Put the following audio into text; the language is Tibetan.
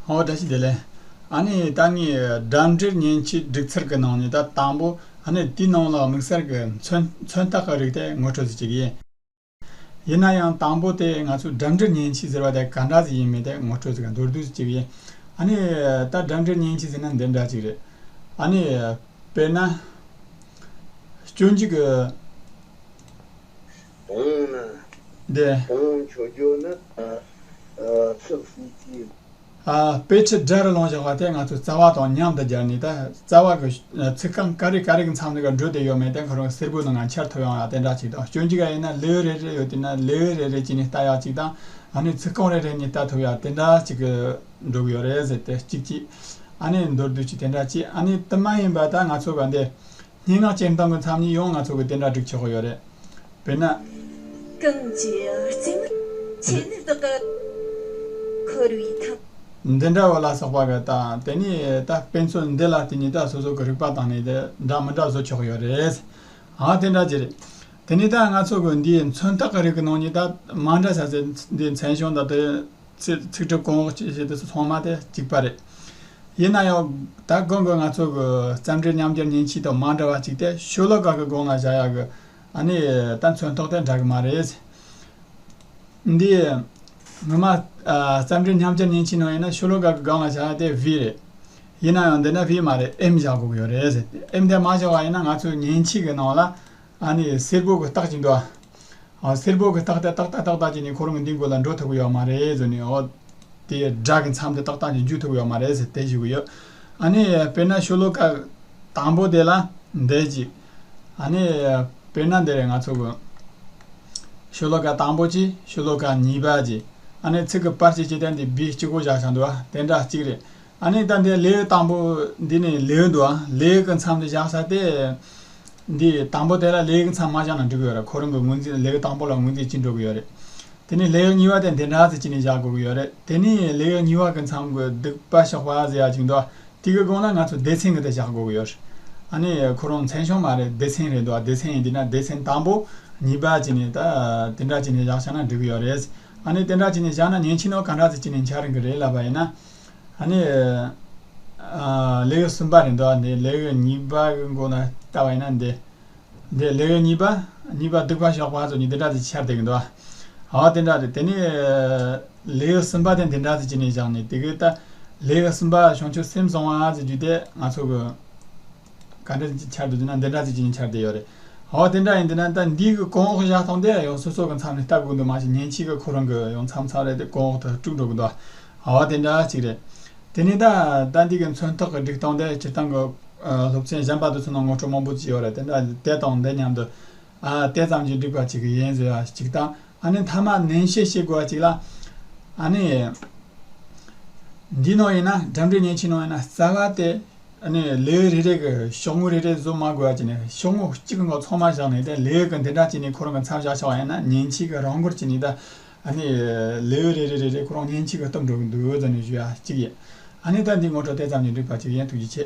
ཧོ་ད་ཅི་དེ་ལས། ཨ་ནི་ད་ངས་སྒྲ་འབྲེལ་མཉེན་ཆས་སྒྲིག་ཚར་གི་ནང་ནས་ད་དང་པོ་ཨ་ནི་དེའི་ནང་ལ་དམིགས་བསལ་གི་མཚོན་རྟགས་ག་རིགས་དེ་ངོ་སྤྲོད་ཟེར་གྱི་ཡིན། ཡིན་ན་ཡང་དང་པོ་དེ་ང་ཚོས་སྒྲ་འབྲེལ་མཉེན་ཆས་ཟེར་བ་དེ་ག་འདྲ་ཟིག་ཡིན་མིན་དེ་ངོ་སྤྲོད་ཟེར་གི་མདོར་བསྡུས་ཟེར་གྱི་ཡིན། ཨ་ནི་ད་སྒྲ་འབྲེལ་མཉེན་ཆས་ཟེར་ན་འདི་འདྲ་ཅིག་རེད། ཨ་ནི། དཔེར་ན། སྐྱོན་གྱི། བོང་ན། འདི། བོང་ཆོས་རྒྱུད་ནི། ཚིག་གསུམ་གྱིས། དཔེ་ཁྲིད་སྦྲ་རི་ལོང་བཞག་པ་དེ་ང་ཚོས་རྩ་བ་དང་མཉམ་དུ་སྦྱར་ནས་ད་རྩ་བ་གི་ཚིག་རྐང་ཀ་རེ་ཀ་རེ་གི་མཚམས་ནས་ཀ་འབྲུ་དེ་ཡོད་མེད་དེ་གང་རུང་གསེར་སྦུག་ནང་ང་འཆར་ཐུབ་ཡོང་ཡག་དེ་འདྲ་ཅིག་དང་སྐྱོན་གྱི་ག་ཡིན་ན་ལེའུ་རེ་རེ་ཡོད་དུས་ན་ལེའུ་རེ་རེ་གྱིས་ནས་བལྟ་ཡག་ཅིག་དང་ཨ་ནི་ཚིག་རྐང་རེ་རེ་གཉིས་བལྟ་ཐུབ་ཡག་དེ་འདྲ་ཅིག་གི་འགྲོ་གི་ཡོད་རེད་ཟེར་ཏེ་གཅིག་གཅིག་ཨ་ནི་མདོར་བསྡུས་ཀྱིས་དེ་འདྲ་ཅིག་ཨ་ནི་དུ་མ་ཡིན་པ་ད་ང་ཚོ་ག་འདི་སྙན་ངག་སྤྱན་དྲངས་པའི་མཚམས་གཉིས་ཡང་ང་ཚོ་གིས་དེ་འདྲ་བསྒྲིགས་ཆོག་གི་ཡོད་རེད། དཔེར་ན། གང་གི་རྩེ་མོར་ཆེས་ནི་བདག་གི་འཁོར་བའི་ཐང། འདི་འདྲ་བ་ལ་སོགས་པ་གི་ལྟ། དེ་ནས་ད་དཔེ་མཚོན་འདི་ལ་བརྟེན་ནས་ད་སོ་སོ་གི་རིག་པ་དང་ནི་འདྲ་མི་འདྲ་བཟོ་ཆོག་གི་ཡོད་རེད། ཨང་དེ་འདྲ་ཅི་རེད། དེ་ནས་ད་ང་ཚོ་གི་འདིའི་མཚོན་རྟགས་ཀྱི་རིགས་ནང་ནས་ད་མ་འདྲ་ས་ཚེ་འདིའི་མཚན་གཞུང་དང་དེ། ཚིག་ཚིག་གྲུབ་གོང་ཅེས་བཤད་དུས་སུ་ཚང་མ་དེ་གཅིག་པ་རེད། ཡིན་ན་ཡང། ད་དགོན་པའི་ང་ཚོ་གི་བརྩམས་སྒྲུང་ཉམས་འགྱུར་ཉིན་གཅིག་དང་མ་འདྲ་བ་གཅིག་སྟེ་ཤོ་ལོ་ཀ་གི་སྒོ་ང་བཞག་ཡག་གི། ཨ་ནི་ད་མཚོན་ཐོག་དེ་འདྲ་གི་མ་རེད། འདི། ངོ་མ། བརྩམས་སྒྲུང་ཉམས་འགྱུར་ཉིན་གཅིག་ནང་ཡིན་ན་ཤོ་ལོ་ཀ་གི་སྒང་ང་བཞག་ཡག་དེ་བྷི་རེད། ཡིན་ན་ཡང་འདི་ནི་བྷི་མ་རེད་ཨེམ་བཞག་དགོས་ཀྱི་ཡོད་རེད། ཨེམ་དེ་མ་བཞག་བ་ཡིན་ན་ང་ཚོས་ཉིན་གཅིག་གི་ནང་ལ། ཨ་ནི་སེར་པོ་གི་རྟགས་ཀྱིས་འགྲོ། ཨོ་སེར་པོ་གི་རྟགས་ཏེ་ཏག་ཏག་ཏག་ཏག་ཅིག་ནི་ཁོ་རང་གི་འདི་དགོས་ལ་འགྲོ་ཐུབ་ཀྱི་ཡོད་མ་རེད་ཟེར་ནས་ཨོ། དེ་སྒྲ་གི་མཚམས་དེ་ཏག་ཏག་ཅིག་འཇུ་ཐུབ་ཀྱི་ཡོད་མ་རེད་ཟེར་དེ་ཞུ་གི་ཡོད། ཨ་ནི་དཔེར་ན་ཤོ་ལོ་ཀ་དང་པོ་དེ་ལ་འདེད་ཅིག། ཨ་ནི་དཔེར་ན་འདིར་ང་ཚོ་གི། ཤོ་ལོ་ཀ་དང་པོ་གཅིག་ཤོ་ལོ་ཀ་གཉིས་པ་གཅིག་ཨ་ནི་ཚིག་གི་པར་གཅིག་ཅེས་ཏེ་འདི་བི་གཅིག་པོ་བཞག་བཞག་འདུག་ཨ་དེ་འདྲ་གཅིག་རེད། ཨ་ནི་ད་འདི་ལེའུ་དང་པོ་འདི་ནི་ལེའུ་འདུག་ལེའུ་གི་མཚམས་འདི་བཞག་ས་དེ། འདི་དང་པོ་དེ་ལ་ལེའུ་གི་མཚམས་མ་བཞག་ན་འགྲིག་གི་ཡོད་རེད་ཁོ་རང་གི་ངོས་འཛིན་ལེའུ་དང་པོ་ལ་ངོས་འཛིན་བྱེད་འགྲོ་གི་ཡོད་རེད། དེ་ནི་ལེའུ་གཉིས་པ་དེ་འདི་འདྲ་ཟེར་གྱིས་ནས་བཞག་དགོས་ཀྱི་ཡོད་རེད་དེ་ནི་ལེའུ་གཉིས་པ་གི་མཚམས་གི་སྡིག་པ་ཞོགས་པ་ཟེར་ཡག་ཅིག་འདུག་དེ་གི་སྒང་ལ་ང་ཚོ་སྡེ་ཚན་གི་དེ་བཞག་དགོས་ཀྱི་ཡོད་རེད། ཨ་ནི་ཁོ་རང་མཚན་ཞོགས་མ་རེད་སྡེ་ཚན་རེད་འདུག་སྡེ་ཚན་ཡིན་དུས་ན་སྡེ་ཚན་དང་པོ་གཉིས་པ་བྱས་ནས་ད་དེ་འདྲ་བྱས་ནས་བཞག་ཤག་ན་འགྲིག་གི་ཡོད་རེད། ཨ་ནི་དེ་འདྲ་བྱས་ནས་བཞག་ན་ཉན་ཕྱི་ནང་ག་འདྲ་ཟེར་གྱིས་ནས་འཆར་གི་རེད་ལབ་པ་ཡིན་ན། ནི། ལེའུ་གསུམ་པ་རེ་འདོགས་ནས་ལེའུ་གཉིས་པ་གི་འགོ་ན་བལྟ་བ་ཡིན་ན་འདི། འདི་ལེའུ་གཉིས་པ། གཉིས་པ་གདུག་པ་གཤོག་པ་སོགས་ནི་འདི་འདྲ་དེ་ཕྱིར་བལྟས་འདུག་ཨ། འོ་དེ་འདྲ་རེད་དེ་ནི། ལེའུ་གསུམ་པ་དེ་འདི་འདྲ་ཟེར་གྱི་ནས་བཞག་ནས་དེ་གའི་ལྟ། ལེའུ་གསུམ་པ་བྱང་ཆུབ་སེམས་གསང་བ་ཟེར་རྒྱུ་དེ་ང་ཚོ་གི། ག་འདྲ་ཅིག་འཆར་འདུག་འདི་ན་འདི་འདྲ་ཅིག་ཅིག་འཆར་བསྡད་ཡོད་རེད། ཨོ་དེ་འདྲ་ཡིན་འདི་ན་ད་འདིའི་གི་གོང་འོག་བཞག་ཐོག་འདི་ཡང་སོ་སོ་གི་མཚམས་ནས་ལྟ་དགོས་འདུག་མ་གཞི་ཉིན་གཅིག་གི་ཁོ་རང་གི་ཡང་མཚམས་མཚམས་རེ་དེ་གོང་འོག་ཏུ་དཀྲུགས་འགྲོ་གི་འདུག་ཨ་ཨོ་དེ་འདྲ་ཅིག་རེད། དེ་ནས་ད་ད་འདི་གི་མཚོན་ཐོག་གི་སྒྲིག་སྟངས་དེ་སྤྱིར་བཏང་གི་སློབ་ཆེན་གཞན་པ་དང་མཚོན་ན་ངོ་སྤྲོད་མང་པོ་ཅིག་ཡོད་རེད་དེ་འདྲ་དེ་དང་འདི་མཉམ་དུ་ཨ་དེ་ཙམ་གྱིས་འགྲིག་པ་ཅིག་གི་ཡིན་ཟེར་བ་ཅིག་དང་ཨ་ནི་མཐའ་མ་ནན་བཤད་བྱེད་དགོས་པ་ཅིག་ལ་ཨ་ནི། འདིའི་ནང་ཡིན་ན་འགྲིམ་འགྲུལ་བརྙན་ཆིངས་ནང་ཡིན་ན་རྩ་བ་དེ། ལས་རེ་རེ་གི་ཤོག་ངོས་རེ་རེ་བཟོ་མ་དགོས་ཀྱི་ནི་ཤོག་ངོས་གཅིག་གི་ནང་ཚང་མ་བཞག་ནས་ལས་གི་འདི་འདྲ་བྱས་ནས་ཁོ་རང་གི་མཚམས་བཞག་ཆོག་ཡང་ན་ཉིན་གཅིག་གི་རང་འགུལ་གྱི་ནི་ད་ལས་རེ་རེ་རེ་རེ་ཁོ་རང་ཉིན་གཅིག་གི་གཏུབ་འགྲོ་གི་འདུག་ཟེར་ནས་ཞུ་ཡག་གཅིག་ཡིན་ཨ་ནི་ད་འདི་ངོ་སྤྲོད་དེ་ཙམ་ནས་འགྲིག་པ་གཅིག་ཡིན་ཐུགས་རྗེ་ཆེ།